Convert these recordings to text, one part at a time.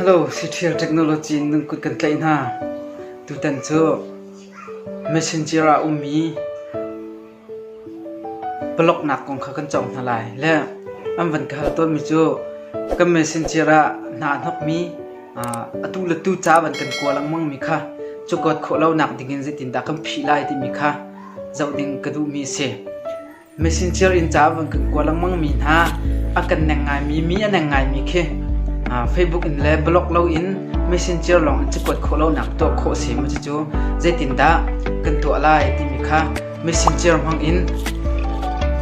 Siṭhial technology in nan kut kan tlaih hna. Tutan cu messenger ah a ummi palawknak kong kha kan cawng hna lai. Le an van ka hal tawnmi cu kan messenger ah hna a hnokmi atu le tu ca van kan kua lengmangmi kha cukawt khawh lonak ding in zeitindah kan phih lai timi kha zoh ding ka duhmi a si. Messenger in ca a vun kan kuah lengmangmi hna, a kan neng ngaimi, mi a neng ngaimi khi Facebook in le blog loin Messenger lawng an si kuat khawh lonak tuah khawh a si maw cucu zeitindah kan tuah lai timi kha Messenger hmangin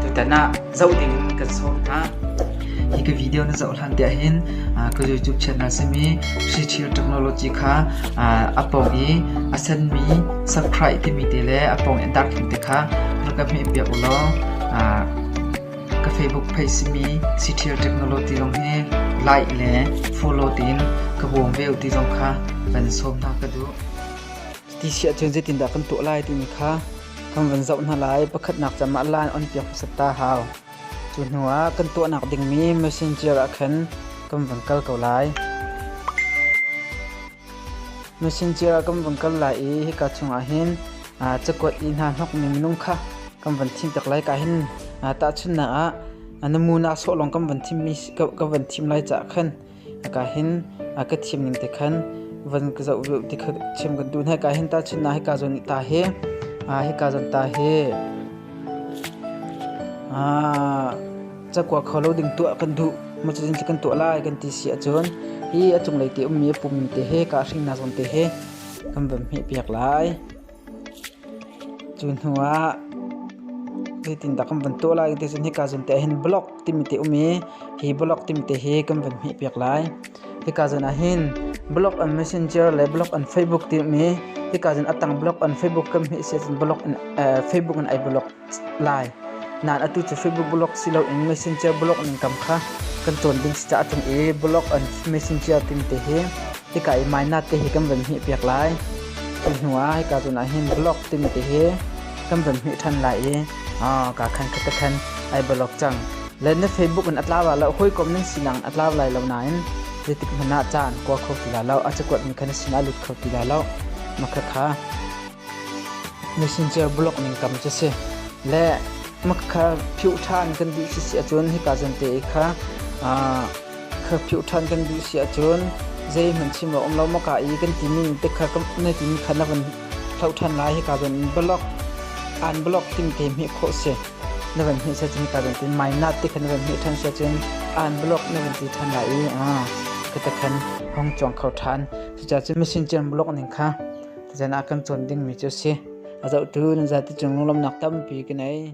tutan ah zoh ding in kan sawm hna. Hi ka video na zoh hlan te ahhin ka YouTube channel simi Sri Chill Technology kha a pawng i a senmi subscribe timi te le a pawng i a darkhim te kha rak ka hmeh piak ulaw ka Facebook page simi Sri Chill Technology zong hi like le follow tiin ka bawm ve ti zong kha van sawm hna ka duh. Ti siah cun zeitindah kan tuah lai timi kha kan van zoh hna lai. Pakhatnak cam ah laan on piak hmasat ta hau. Cu hnuah kan tuahnak dingmi messenger ah khan kan vun kal ko lai. Messenger ah kan vun kal lai i hika chungah hin aa, cakuat i hna hnokmi minung kha kan vun thimpiak lai. Ka hin tahchunhnak ah, na mu na sawh lawng kan vun thimmi ka vun thim lai caah khan Hika hin a ka thim ning te khan van ka zoh veu ti kha chim kan duh. Hika hin tahchunh na hika zon ta hi hika zon ta hi cakua kho lo ding tuah kan duh. Macun kan tuah lai kan ti si ahcun hi a cunglei ti ummi a pummi te hi ka hringnak zon te hi kan van hmeh piak lai. Cu hnu ah zeitindah kan van tuah lai ti cun hika zun te ah hin block timi te um i hi block timi te hi kan van hmih piak lai. Hika zun ah hin block an messenger le block an Facebook ti um i hika zun a tang block an Facebook kan hmih si ahcun Facebook in ai block. lai. Nan atu cu Facebook blog si loin Messenger blog nan kam kha kan cawn ding si caah ṭung i blog and Messenger timi te hi hika i mainat te hi kan van hmih piak lai. Cu hnu ah hika cun ah hin blog timi te hi kan van hmih ṭhan lai i ka khan khat ka khan ai blog cang. Le na Facebook in a tlau la lo hawikom nan sinak in a tlau lai lo nain zeitik hmanh ah caan kua kho ti la lo a cakuat mi kha na sinah lut kho ti la lo. Makha kha Messenger bulok ning tam cu si. Le maka kha phiuh ṭhan kan duh si si ahcun hika zante i kha kha phiuh ṭhan kan duh si ahcun zeihmanh chim a um lo maka i kan timi ning te kha na timi kha na van hloh ṭhan lai. Hika zon in bulok aan bulok timi te hmeh khawh si. Na van hmeh siahcun hika zon te mai nat te kha na van hmeh ṭhan siahcun aan bulok na van ti ṭhan lai i khata khan hong cuang kho ṭhan. Cucaah cu messenger bulok ning kha Zan ah kan cawn dingmi cu a si. A zohtu nan zate cung lunglawmhnak tampi ka ngei.